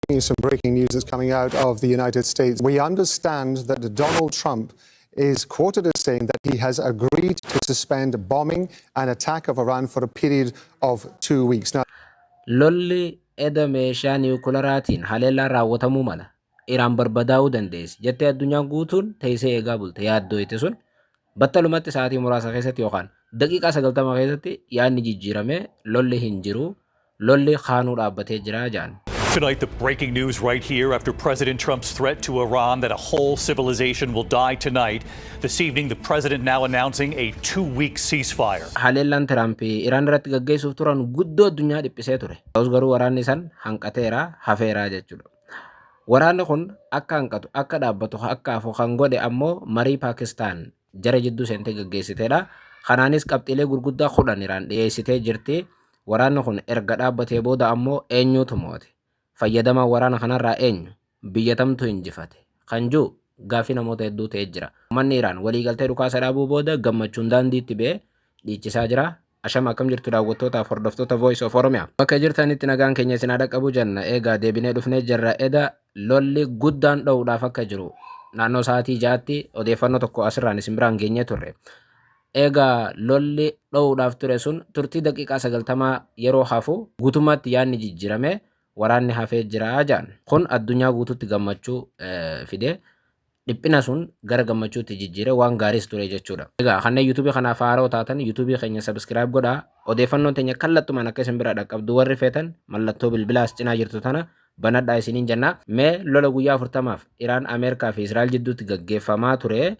Some breaking news that's coming out of the United States. We understand that Donald Trump is quoted as saying that he has agreed to suspend bombing and attack of Iran for a period of two weeks. Now, Lolli eda meeshaa niwukilaraatiin haleellaa raawwatamuu mala. Iraan barbadaa'uu dandeessi jettee addunyaan guutuun teessee eegaa bulte yaaddooyte sun battalumatti sa'aatii muraasa keessatti yookaan daqiiqaa 90 keessatti yaadni jijjiiramee lolli hin jiru Lolli kaanuu dhaabbatee jira jedhan. Tonight, the breaking news right here after President Trump's threat to Iran that a whole civilization will die tonight. This evening, the president now announcing a two week ceasefire. Haleellaan Tiraamp Iraan irratti gaggeessuuf turan guddoo addunyaa dhiphisee ture. Ta'us garuu waraanni san hanqateera, hafeera jechuudha. Waraanni kun akka hanqatu, akka dhaabbatu, akka hafu kan godhe ammoo marii Paakistaan jara jidduu seentee gaggeessitedha. Kanaanis qabxiilee gurguddaa kudhan Iraan dhiyeessitee jirti. Waraanni kun erga dhaabbatee booda ammoo eenyuutu moo'ate? Fayyadamaan waraana kanarraa eenyu? Biyya tamtu injifate? Kan jiru gaaffii namoota hedduu ta'ee jira. Uummanni Iraan waliigaltee dhukaasa dhaabuu booda gammachuun daandiitti ba'ee dhiichisaa jira. Ashama akkam jirtu daawwattootaaf hordoftoota Voice of Oromia. Bakka jirtanitti nagaan keenya isin haa dhaqqabu jenna. Eegaa deebinee dhufnee jirra. Eda lolli guddaan dho'uudhaaf akka jiru naannoo sa'aatii ja'aatti odeeffannoo tokko asirraan isin biraan geenyee turre. Eegaa lolli dho'uudhaaf ture sun turtii daqiiqaa sagaltamaa yeroo hafu guutummaatti yaadni jijjiirame waraanni hafee jira jedhan. Kun addunyaa guutuutti gammachuu fide. Dhiphina sun gara gammachuutti jijjiire waan gaariis ture jechuudha. Egaa kanneen YouTube kanaaf haaroo taatan YouTube keenya subscribe godhaa. Odeeffannoon teenya kallattumaan akka isin bira dhaqqabdu warri feetan mallattoo bilbilaa as cinaa jirtu tana banadhaa isiniin jenna. Mee lola guyyaa 40f Iraan Ameerikaa fi Israa'el jidduutti gaggeeffamaa ture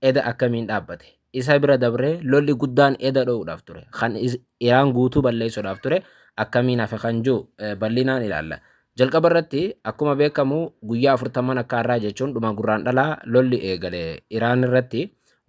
eda akkamiin dhaabbate? Isa bira dabree lolli guddaan eda dho'uudhaaf ture. Kan Iraan guutuu balleessuudhaaf ture akkamiin hafe kan jiru bal'inaan ilaalla. Jalqaba irratti akkuma beekamu guyyaa afurtamman akka har'aa jechuun dhuma Gurraandhalaa lolli eegale Iraan irratti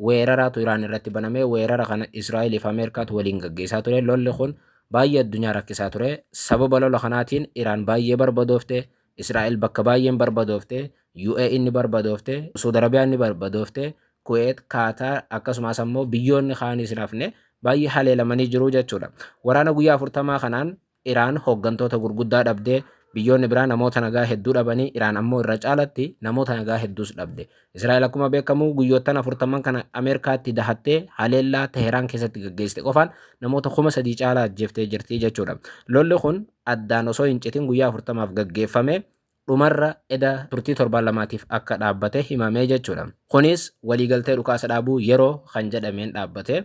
weeraraatu Iraan irratti baname weerara kana Israa'eliif Ameerikaatu waliin gaggeessaa ture lolli kun baay'ee addunyaa rakkisaa ture sababa lola kanaatiin Iraan baay'ee barbadoofte Israa'el bakka baay'een barbadoofte UAE ni barbadoofte Suud Arabiyaan ni barbadoofte Kuweet Kaataar akkasumas ammoo biyyoonni kaanis hin hafne baay'ee haleelamanii jiru jechuudha waraana guyyaa afurtamaa kanaan Iraan hooggantoota gurguddaa dhabde, biyyoonni biraa namoota nagaa hedduu dhabanii Iraan ammoo irra caalatti namoota nagaa hedduus dhabde. Israa'el akkuma beekamu guyyoottan afurtamman kana Ameerikaatti dahattee haleellaa Teheraan keessatti gaggeessite qofaan namoota kuma sadii caalaa ajjeeftee jirti jechuudha. Lolli kun addaan osoo hin citin guyyaa afurtamaaf gaggeeffame dhumarra eda turtii torbaan lamaatiif akka dhaabbate himamee jechuudha. Kunis waliigaltee dhukaasa dhaabuu yeroo kan jedhameen dhaabbate.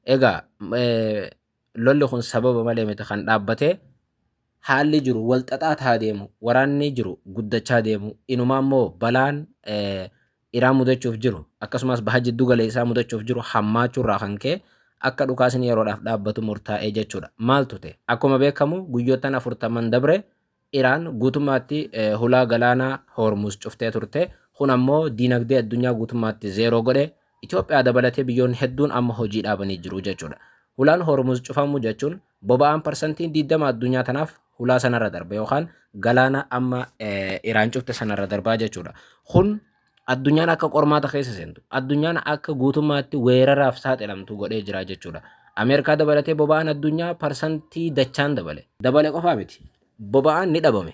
Egaa lolli kun sababa malee miti kan dhaabbate, haalli jiru wal xaxaa tahaa deemu, waraanni jiru guddachaa deemu, inumaa immoo balaan Iraan mudachuuf jiru akkasumas baha jiddu galeessaa mudachuuf jiru hammaachuu irraa kan ka'e akka dhukaasni yeroodhaaf dhaabbatu murtaa'ee jechuudha. Maaltu ta'e? Akkuma beekamu guyyoottan afurtaman dabre Iraan guutummaatti hulaa galaanaa Hoormuuz cuftee turte. Kun ammoo diinagdee addunyaa guutummaatti zeeroo godhe. Itoophiyaa dabalatee biyyoonni hedduun amma hojii dhaabanii jiru jechuudha. Hulaan Hoormuuz cufamuu jechuun boba'aan parsantiin 20 addunyaa tanaaf hulaa sanarra darba yookaan galaana amma Iraan cufte sanarra darbaa jechuudha. Kun Addunyaan akka qormaata keessa seentu, addunyaan akka guutummaatti weeraraaf saaxilamtu godhee jira jechuudha. Ameerikaa dabalatee boba'aan addunyaa parsantii dachaan dabale. Dabale qofaa miti. Boba'aan ni dhabame.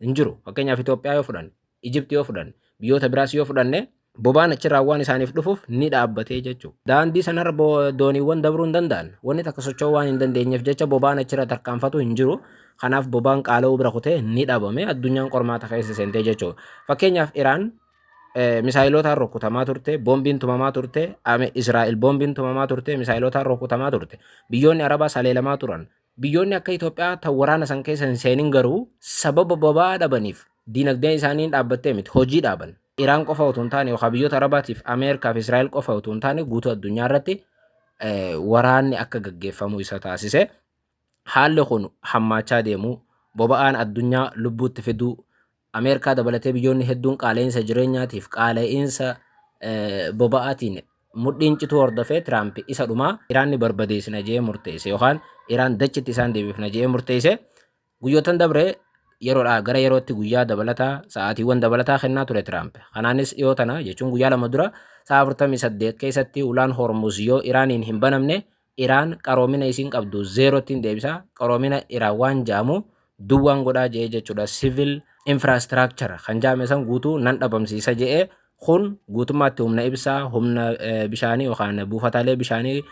Hin jiru. Fakkeenyaaf Itoophiyaa yoo fudhanne, Ijipti yoo fudhanne, biyyoota biraas yoo fudhanne boba'aan achirraa waan isaaniif dhufuuf ni dhaabbatee jechuudha. Daandii sanarra dooniiwwan dabruu hin danda'an. Wanni takka socho'uu waan hin dandeenyeef jecha boba'aan achirra tarkaanfatu hin jiru. Kanaaf bobaan qaala'uu bira kutee ni dhabame. Addunyaan qormaata keessa seentee jechuudha. Fakkeenyaaf Iraan misaayilotaan rukkutamaa turte, boombiin tumamaa turte, Israa'el boombiin tumamaa turte, misaayilotaan rukkutamaa turte. Biyyoonni Arabaa saleelamaa turan. Biyyoonni akka Itoophiyaa tan waraana san keessa hin seenin garuu sababa boba'aa dhabaniif diinagdeen isaanii hin dhaabbattee miti hojii dhaaban. Iraan qofa utuu hin taane yookaan biyyoota Arabaatiif Ameerikaa fi Israa'el qofa utuu hin taane guutuu addunyaa irratti waraanni akka gaggeeffamu isa taasise. Haalli kun hammaachaa deemuu, boba'aan addunyaa lubbuutti fiduu, Ameerikaa dabalatee biyyoonni hedduun qaala'insa jireenyaatiif qaala'insa boba'aatiin mudhiin cituu hordofee Tiraamp isa dhumaa Iraanni barbadeessina jedhee murteesse yookaan Iraan dachitti isaan deebifna jedhee murteesse guyyootan dabre yeroodhaa gara yerootti guyyaa dabalataa sa'aatiiwwan dabalataa kennaa ture Tiraamp. Kanaanis dhiyoo tana jechuun guyyaa lama dura sa'a 48 keessatti ulaan Hormuz yoo Iraaniin hin banamne Iraan qaroomina isiin qabdu zero ttin deebisa qaroomina Iraan waan ja'amu duwwaan godhaa je'ee jechuudha civil infrastructure kan ja'ame san guutuu nan dhabamsiisa je'e kun guutummaatti humna ibsaa humna bishaanii yookaan buufataalee bishaanii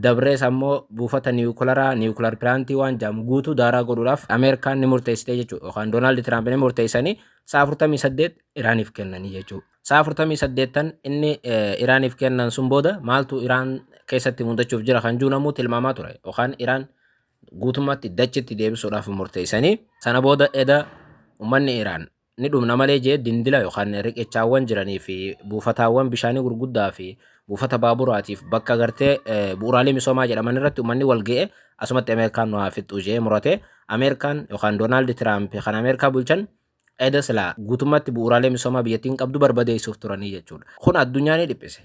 dabrees ammoo buufata niwukilaraa niwukilar piraantii waan ja'amu guutuu daaraa godhuudhaaf Ameerikaan ni murteessitee jechuudha yookaan Doonaald Tiraamp ni murteessanii sa'a 48 Iraaniif kennanii jechuudha. Sa'a 48tan inni Iraaniif kennan sun booda maaltu Iraan keessatti mudachuuf jira kan jiru namuu tilmaamaa ture. Yookaan Iraan guutummaatti dachitti deebisuudhaaf murteessanii sana booda eda uummanni Iraan ni dhumna malee jee dindila yookaan riqichaawwan jiranii fi buufataawwan bishaanii gurguddaa fi buufata baaburaatiif bakka gartee bu'uuraalee misoomaa jedhaman irratti uummanni wal ga'e asumatti Ameerikaan nu haa fixxu jee murate Ameerikaan yookaan Doonaald Tiraamp kan Ameerikaa bulchan Eda silaa guutummaatti bu'uuraalee misoomaa biyyattiin qabdu barbadeessuuf turanii jechuudha. Kun addunyaa ni dhiphise.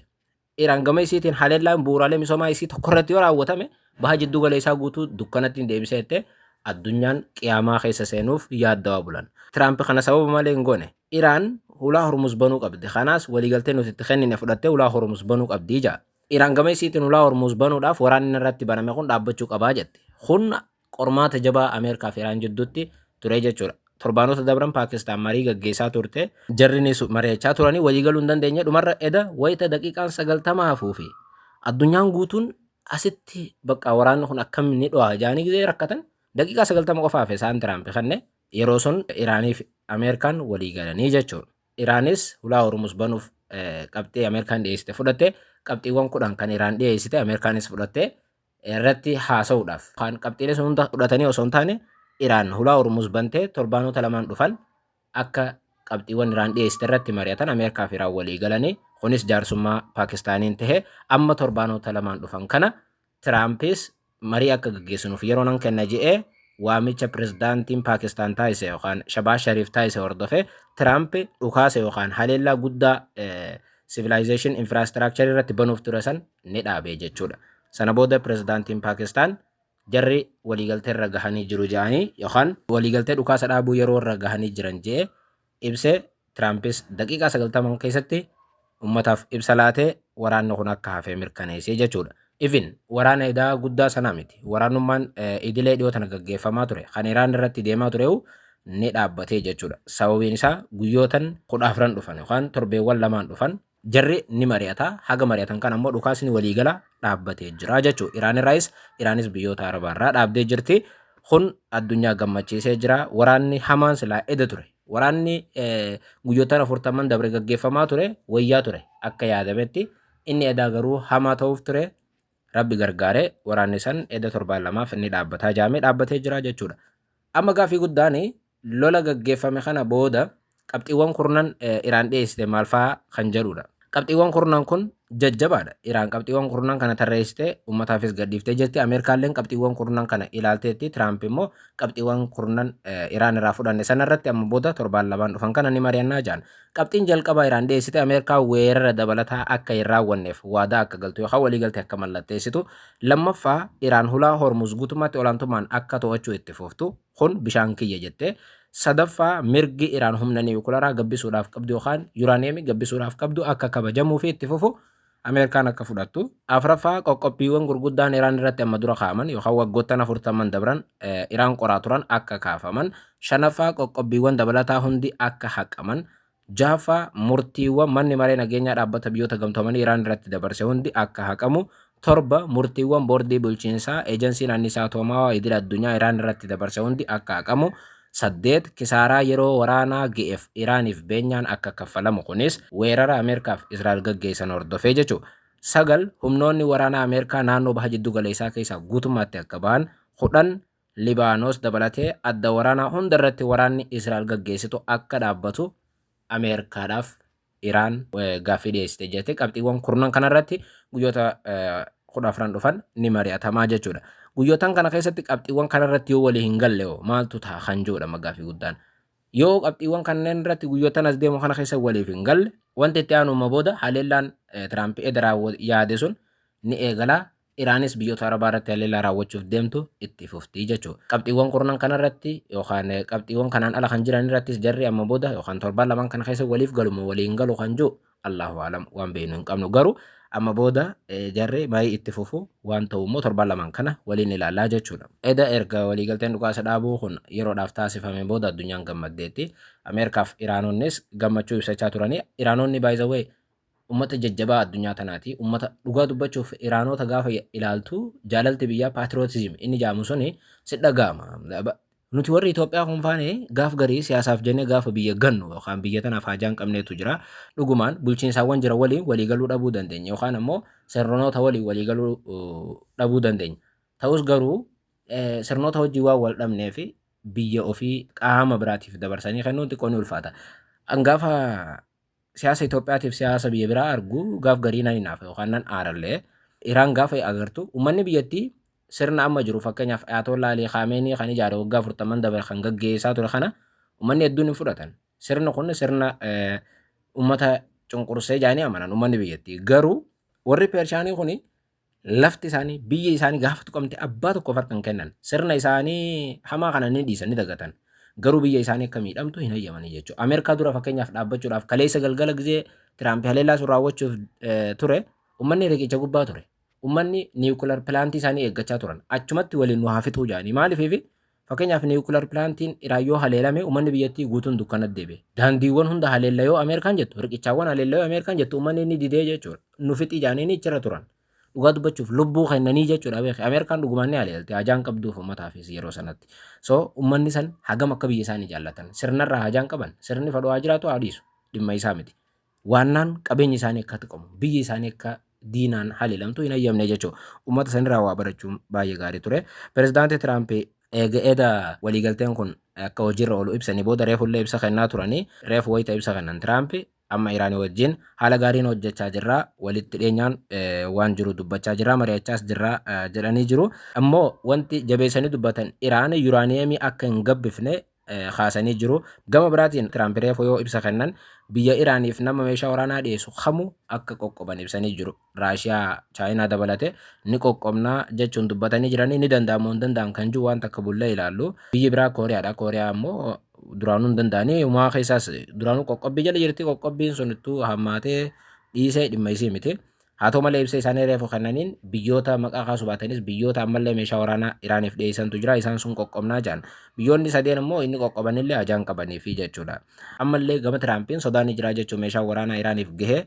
Iraan gama isiitiin haleellaan bu'uuraalee misoomaa isii tokko irratti yoo raawwatame baha jidduu galeessaa guutuu dukkanatti ni deebisa jettee addunyaan qiyaamaa keessa seenuuf yaaddawaa bulan. Tiraamp kana sababa malee hin goone. Iraan hulaa Hormuz banuu qabdi. Kanaas waliigaltee nuti itti kennine fudhattee hulaa Hormuz banuu qabdi ja'a. Iraan gama isiitiin hulaa Hormuz banuudhaaf waraanni irratti baname kun dhaabbachuu qabaa jette. Kun qormaata jabaa Ameerikaa fi Iraan jidduutti ture jechuudha. Torbaanota dabran Paakistaan marii gaggeessaa turte. Jarrinis mari'achaa turanii waliigaluu hin dandeenye. Dhumarra eda wayita daqiiqaan sagaltama hafuu fi addunyaan guutuun asitti bakka waraanni kun akkam ni dho'a jaanii gizee rakkatan daqiiqaa sagaltama qofa hafe isaan Tiraampi kanne yeroo sun Iraanii fi Ameerikaan waliigalanii jechuudha. Iraanis hulaa Hormuuz banuuf qabxii Ameerikaan dhiyeessite fudhatte qabxiiwwan kudhan kan Iraan dhiyeessite Ameerikaanis fudhatte irratti haasa'uudhaaf yookaan qabxiilee sun hunda fudhatanii osoo hin taane Iraan hulaa Hormuz bantee torbaanota lamaan dhufan akka qabxiiwwan Iraan dhiyeessite irratti mari'atan Ameerikaa fi Iraan walii galanii kunis jaarsummaa Paakistaaniin tahe amma torbaanota lamaan dhufan kana Tiraampis marii akka gaggeessinuuf yeroo nan kenna je'ee waamicha pirezidaantiin Paakistaan taasise yookaan Shabaaz Shariif taasise hordofee Tiraamp dhukaasa yookaan haleellaa guddaa sivilaayizeeshin infiraastraakcharii irratti banuuf ture san ni dhaabe jechuudha. Sana booda pirezidaantiin Paakistaan jarri waliigaltee irra gahanii jiru jedhanii yookaan waliigaltee dhukaasa dhaabuu yeroo irra gahanii jiran jedhee ibse Tiraampis daqiiqaa 90 keessatti ummataaf ibsa laatee waraanni kun akka hafee mirkaneessee jechuudha. Ifin waraana edaa guddaa sanaa miti. Waraanummaan idilee dhiyoo tana gaggeeffamaa ture. Kan Iraan irratti deemaa ture'u ni dhaabbatee jechuudha. Sababiin isaa guyyootan kudha afran dhufan yookaan torbeewwan lamaan dhufan Jarri ni mari'ata. Haga mari'atan kan ammoo dhukaasni waliigala dhaabbatee jira jechuudha. Iraan irraayis Iraanis biyyoota Arabaa irraa dhaabdee jirti. Kun addunyaa gammachiisee jira. Waraanni hamaan silaa eda ture. Waraanni guyyootaan afurtamman dabre gaggeeffamaa ture wayyaa ture akka yaadametti. Inni edaa garuu hamaa ta'uuf ture. Rabbi gargaare waraanni san eda torbaan lamaaf inni dhaabbataa jaamee dhaabbatee jira jechuudha. Amma gaafii guddaan Lola gaggeeffame kana booda qabxiiwwan kurnan Iraan dhiyeessite maal fa'a kan jedhudha. Qabxiiwwan kurnan kun jajjabaadha. Iraan qabxiiwwan kurnan kana tarreessitee uummataafis gadhiiftee jirti. Ameerikaalleen qabxiiwwan kurnan kana ilaalteetti. Tiraamp immoo qabxiiwwan kurnan Iraan irraa fudhanne sanarratti amma booda torbaan lamaan dhufan kana ni mari'annaa jedhan. Qabxiin jalqabaa Iraan dhiyeessite Ameerikaa weerara dabalataa akka hin raawwanneef waadaa akka galtu yookaan waliigalte akka mallatteessitu. Lammaffaa Iraan hulaa Hormuz guutummaatti olaantummaan akka to'achuu itti fuftu. Kun bishaan kiyya jette. Sadaffaa mirgi Iraan humna niwukilaraa gabbisuudhaaf qabdu yookaan yuraaniyeemii gabbisuudhaaf qabdu akka kabajamuu fi itti fufu Ameerikaan akka fudhattu. Afraffaa qoqqobbiiwwan gurguddaan Iraan irratti amma dura kaa'aman yookaan waggoottan afurtamman dabran Iraan qoraa turan akka kaafaman. Shanaffaa qoqqobbiiwwan dabalataa hundi akka haqaman. Jahaffaa, Murtiiwwan Manni Maree Nageenyaa Dhaabbata Biyyoota Gamtoomanii Iraan irratti dabarse hundi akka haqamu. 7, Murtiiwwan Boordii Bulchiinsaa Ejansiin Anniisaa Atoomaawaa Idil Addunyaa Iraan irratti dabarse hundi akka haqamu. 8, Kisaaraa yeroo waraanaa ga'eef Iraaniif beenyaan akka kaffalamu, kunis weerara Ameerkaaf Israa'el gaggeessan hordofee jechu. 9, Humnoonni waraanaa Ameerkaa naannoo Baha Jiddu Galeessaa keessaa guutummaatti akka bahan. 10, Libaanos dabalatee adda waraanaa hunda irratti waraanni Israa'el gaggeessitu akka dhaabbatu Ameerikaadhaaf Iraan gaaffii dhiyeessite jette. Qabxiiwwan kurnan kanarratti guyyoota kudha afran dhufan ni mari'atamaa jechuudha. Guyyootan kana keessatti qabxiiwwan kanarratti yoo walii hin galle hoo maaltu ta'a kan jedhudha magaaffii guddaan. Yoo qabxiiwwan kanneen irratti guyyootan as deemu kana keessa waliif hin galle wanti itti aanuma booda haleellaan Tiraamp edda yaade sun ni eegala. Iraanis biyyoota Arabaa irratti haleellaa raawwachuuf deemtu itti fufti jechu. Qabxiiwwan kurnan kana irratti yookaan qabxiiwwan kanaan ala kan jiran irrattis jarri amma booda yookaan torbaan lamaan kana keessa waliif galu moo walii hin galu kan jiru Allaahu a'lam waan beeknu hin qabnu. Garuu amma booda jarri marii itti fufu waan ta'u immoo torbaan lamaan kana waliin ilaallaa jechuudha. Eda erga waliigalteen dhukaasa dhaabuu kun yeroodhaaf taasifame booda addunyaan gammaddeetti. Ameerikaaf Iraanonnis gammachuu ibsachaa turanii Iraanonni by the way ummata jajjabaa addunyaa tanaati. Ummata dhugaa dubbachuuf Iraanoota gaafa ilaaltu jaalalti biyyaa patriotism inni jaamu suni si dhaga'ama. Nuti warri Itoophiyaa kun faane gaaf garii siyaasaaf jennee gaafa biyya gannu yookaan biyya tanaaf haajaa hin qabneetu jira. Dhugumaan bulchiinsaawwan jira waliin waliigaluu dhabuu dandeenya yookaan ammoo sirnoota waliin waliigaluu dhabuu dandeenya. Ta'us garuu sirnoota wajjin waan wal dhabnee fi biyya ofii qaama biraatiif dabarsanii kennuun xiqqoo ni ulfaata. An gaafa Siyaasa Itoophiyaatiif siyaasa biyya biraa argu gaaf garii nan hinaafa yookaan nan aarallee Iraan gaafa agartu ummanni biyyattii sirna amma jiru fakkeenyaaf Ayaatollaa Alii Kaameenii kan ijaare waggaa 40 dabre kan gaggeessaa ture kana ummanni hedduun hin fudhatan. Sirni kun sirna ummata cunqursee jaanii amanan ummanni biyyattii. Garuu warri Pershaanii kun Lafti isaanii, biyyi isaanii gaafa tuqamte abbaa tokkoof harka hin kennan. Sirna isaanii hamaa kana ni dhiisan, ni dagatan. Garuu biyya isaanii akka miidhamtu hin hayyamanii jechuudha. Ameerikaa dura fakkeenyaaf dhaabbachuudhaaf kaleessa galgala gizee Tiraampi haleellaa sun raawwachuuf eh, ture, ummanni riqicha gubbaa ture. Ummanni niwukilar pilaantii isaanii eeggachaa turan. Achumatti waliin nu haa fixuu jedhanii. Maaliifiifi Fakkeenyaaf niwukilar pilaantiin Iraan yoo haleelame uummanni biyyattii guutuun dukkanatti deebi'e. Daandiiwwan hunda haleella yoo Ameerikaan jettu, riqichaawwan haleella yoo Ameerikaan jettu uummanni inni didee jechuudha. Nu fixii jaaniini ichirra turan. Dhugaa dubbachuuf lubbuu kennanii jechuudha beeki. Ameerikaan dhugumaan ni haleelti. Hajaan qabduuf uummataafis yeroo sanatti. So uummanni san hagam akka biyya isaanii jaallatan. Sirnarraa hajaan qaban. Sirni fadhu haa jiraatu haa dhiisu. Dhimma isaa miti. waannaan qabeenyi isaanii akka tuqamu biyyi isaanii akka diinaan haleelamtu hin hayyamne jechuun uummata sanirraa waa barachuun baay'ee gaarii ture. Pirezidaantii Tiraamp eega eda waliigalteen kun akka hojiirra oolu ibsanii booda reefullee ibsa kennaa turanii reefu wayita ibsa kennan Tiraamp amma Iraanii wajjin haala gaariin hojjechaa jirra walitti dhiyeenyaan waan jiru dubbachaa jirra mari'achaas jirra jedhanii jiru. Ammoo wanti jabeessanii dubbatan Iraan yuraaniyeemii akka hin gabbifne kaasanii jiru. Gama biraatiin Tiraamp reefu yoo ibsa kennan biyya Iraaniif nama meeshaa waraanaa dhiyeessu kamu akka qoqqoban ibsanii jiru. Raashiyaa, Chaayinaa dabalate ni qoqqobnaa jechuun dubbatanii jiranii ni danda'amoo hin danda'an kan jiru waan takka bullee ilaallu. Biyyi biraa Kooriyaadha. Kooriyaa immoo duraanuu hin danda'anii umaa keessaas duraanuu qoqqobbii jala jirti qoqqobbiin sun ittuu hammaatee dhiisee dhimma isii miti. Haa ta'u malee ibsa isaanii reefu kennaniin biyyoota maqaa kaasuu baatanis biyyoota ammallee meeshaa waraanaa Iraaniif dhiyeessantu jira isaan sun qoqqobnaa jedhan. Biyyoonni sadeen immoo inni qoqqobanillee hajaan qabaniifi jechuudha. Ammallee gama Tiraampiin sodaa ni jira jechuun meeshaan waraanaa Iraaniif gahe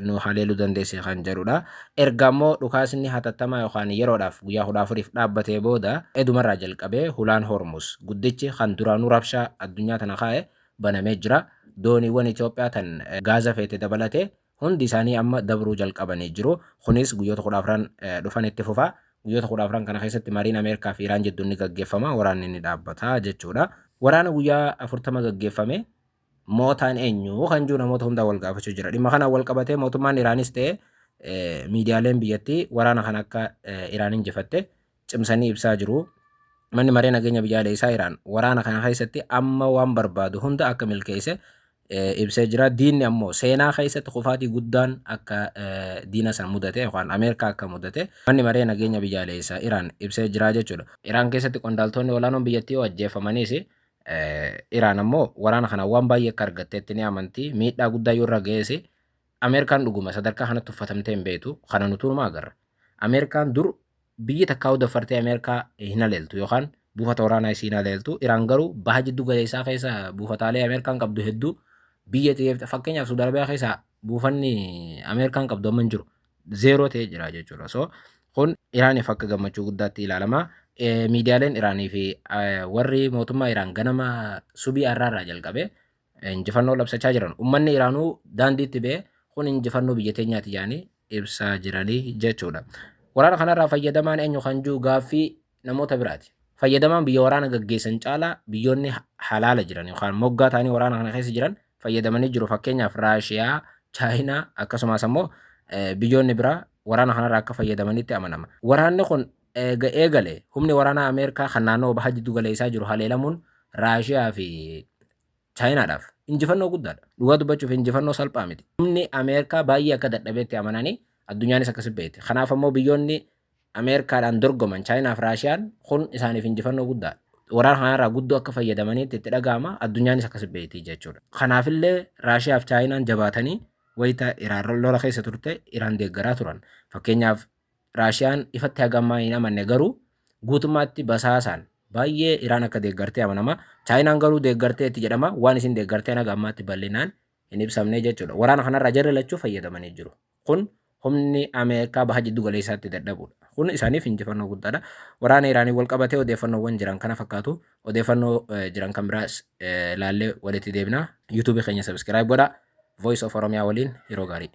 nu haleeluu dandeessi kan jedhudha. Erga ammoo dhukaasni hatattamaa yookaan yeroodhaaf guyyaa kudha afuriif dhaabbatee booda edumarraa jalqabee hulaan Hormus guddichi kan duraanuu rabshaa addunyaa tana kaa'e banamee jira. Dooniiwwan Itoophiyaa tan gaaza feete dabalatee Hundi isaanii amma dabruu jalqabanii jiru. Kunis guyyoota kudha afran dhufan itti fufa. Guyyoota kudha afran kana keessatti mariin Ameerikaa fi Iraan jidduun ni gaggeeffama, waraanni ni dhaabbata jechuudha. Waraana guyyaa afurtama gaggeeffame mootaan eenyu kan jiru namoota hundaa wal gaafachuu jira. Dhimma kanaan wal qabatee mootummaan Iraanis ta'e miidiyaaleen biyyattii waraana kana akka Iraan injifatte cimsanii ibsaa jiru. Manni Maree Nageenya Biyyaaleessaa Iraan waraana kana keessatti amma waan barbaadu hunda akka milkeesse ibsee jira. Diinni ammoo seenaa keessatti kufaatii guddaan akka diina san mudate yookaan Ameerikaa akka mudate manni maree nageenya biyyaaleessaa Iraan ibsee jira jechuudha. Iraan keessatti qondaaltoonni olaanoon biyyattii yoo ajjeefamaniis Iraan ammoo waraana kana waan baay'ee akka argatteetti ni amanti. Miidhaa guddaa yoo irra ga'ees Ameerikaan dhuguma sadarkaa kanatti uffatamtee hin beektu. Kana nuti hunuma agarra. Ameerikaan dur biyyi takkaa daffartee Ameerikaa hin haleeltu yookaan buufata waraanaa isii hin haleeltu. Iraan garuu baha jiddu galeessaa keessa buufataalee Ameerikaan qabdu hedduu biyya xiyyeeffata. Fakkeenyaaf Suudi Arabiyaa keessa buufanni Ameerikaan qabdu amma hin jiru. Zeeroo ta'ee jira jechuudha. So kun Iraaniif akka gammachuu guddaatti ilaalama. Miidiyaaleen Iraanii fi warri mootummaa Iraan ganama subii har'aarraa jalqabee injifannoo labsachaa jiran. Ummanni Iraanuu daandiitti ba'ee kun injifannoo biyya teenyaati jedhanii ibsaa jiranii jechuudha. Waraana kanarraa fayyadamaan eenyu kan jiru gaaffii namoota biraati. Fayyadamaan biyya waraana gaggeessan caalaa biyyoonni halaala jiran yookaan moggaa ta'anii waraana kana keessa jiran fayyadamanii jiru. Fakkeenyaaf Raashiyaa, Chaayinaa akkasumas ammoo biyyoonni biraa waraana kanarraa akka fayyadamanitti amanama. Waraanni kun Eega eegale humni waraanaa Ameerikaa kan naannawa baha jiddu galeessaa jiru haleelamuun Raashiyaa fi Chaayinaadhaaf injifannoo guddaadha. Dhugaa dubbachuuf injifannoo salphaa miti. Humni Ameerikaa baay'ee akka dadhabeetti amananii addunyaanis akkasi beekti. Kanaaf ammoo biyyoonni Ameerikaadhaan dorgoman Chaayinaaf Raashiyaan kun isaaniif injifannoo guddaadha. Waraana kanarraa guddoo akka fayyadamaniitti itti dhaga'ama addunyaanis akkasi beekti jechuudha. Kanaafillee Raashiyaaf Chaayinaan jabaatanii wayita Iraan lola keessa turte Iraan deeggaraa turan. Fakkeenyaaf Raashiyaan ifatti haga ammaa hin amanne garuu guutummaatti basaasaan baay'ee Iraan akka deeggartee amanama. Chaayinaan garuu deeggarteetti jedhama. Waan isin deeggarteen haga ammaatti bal'inaan hin ibsamne jechuudha. Waraana kanarraa jarri lachuu fayyadamanii jiru. Kun humni Ameerikaa baha jiddu galeessaatti dadhabuudha. Kun isaaniif injifannoo guddaadha. Waraana Iraaniin wal qabatee odeeffannoowwan jiran kana fakkaatu. Odeeffannoo jiran kan biraas ilaallee walitti deebina. YouTube keenya subscribe godhaa. Voice of Oromiyaa waliin yeroo gaarii.